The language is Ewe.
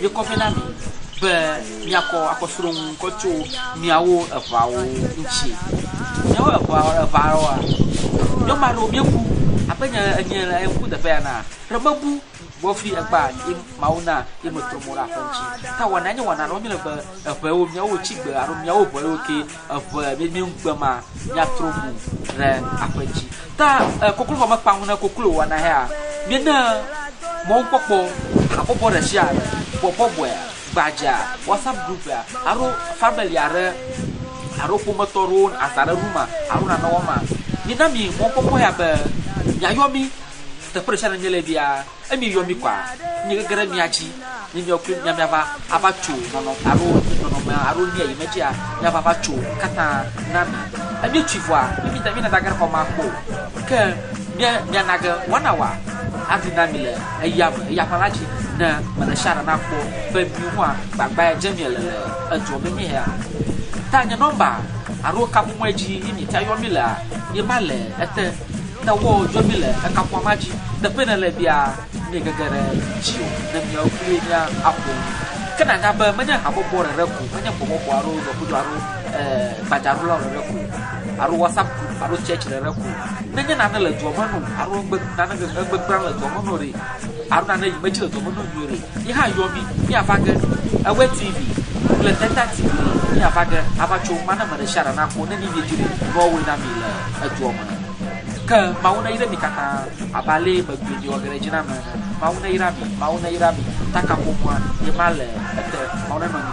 míekɔ vɛ na mi be míakɔ akɔsrɔ̃ ŋu kɔ tso míawo eŋawo ŋuti. Míawo eŋa eŋawoa, nyɔnu aɖewo míebu abe nye enye le ŋku teƒe ya na ɖe mebu wɔfli egba ye Mawu na ye metrɔ mo ɖe aƒe ŋuti. Ta wɔna nye wɔna ɖewo míele be eŋewo míawo tsi gbe alo míawo ŋewo ke Eŋe nini ŋugbe ma miatrɔ mo ɖe aƒe dzi. Ta koklo vɔ mekpa ŋu ne koklo wɔna hea? Miene mɔnukpɔkpɔ, habɔbɔ ɖe sia ɖe, bɔbɔbɔe, gbadza, WhatsApp group alo family aɖe alo ƒometɔ aɖewo aza ɖe room alo nane wɔm ma? Mina mi mɔnukpɔkpɔ ya be miayɔ mi teƒe ɖe sia ɖe miele bia. Emi yɔ mí kɔa? Mí gege ɖe mía dzi ne míawo kloe mía míava ava tso nɔnɔ alo nye nɔnɔme alo nuya yi medzia míava ava tso nu katã na mi. Emi tsoe vɔa mí mí da mí na dage ɖe xɔ ma kpɔ o. Ke mía mía nage wana wa avi na mi le eya me eya ƒã la dzi ne me ɖe sia ɖe na kpɔ be mi hua gbagba ya dze mí ele le edɔ me mí hea. Ta nye nɔmba alo kaƒomɔe dzi yi mí ta yɔ mí lea ye ma le ete. Ne wɔ dzɔ mi le ekaƒoa ma dzi, teƒe ne le bia mi gege ɖe dzi o, ne miawo kpli mia aƒo nu. Ke na nya be menye habɔbɔ ɖeɖe ko, menye gbɔbɔbɔ alo dɔkudo alo e, gbadzaɖola ɖeɖe ko, alo WhatsApp group alo church ɖeɖe ko. Nenye nane le dua me no alo egbe, nane, egbe gbra le dua me no ɖe, Haruna ɖe yi medzi le dɔme ɖo nyuie ɖe yi hã yɔvi mi ava ge ewe TV kple Delta TV ɖe mi ava ge ava tso ŋma ne me ɖe shia ɖa na kpo ne ni mi dzi ɖe yi nɔ woe na mi le edua me ke mawu ne yi ɖe mi katã abe ale yi me gbe mi wɔ ge ɖe dzi na me ene mawu ne yi ɖa mi mawu ne yi ɖa mi taka ƒomua yi ma le ete mawu ne nɔ mi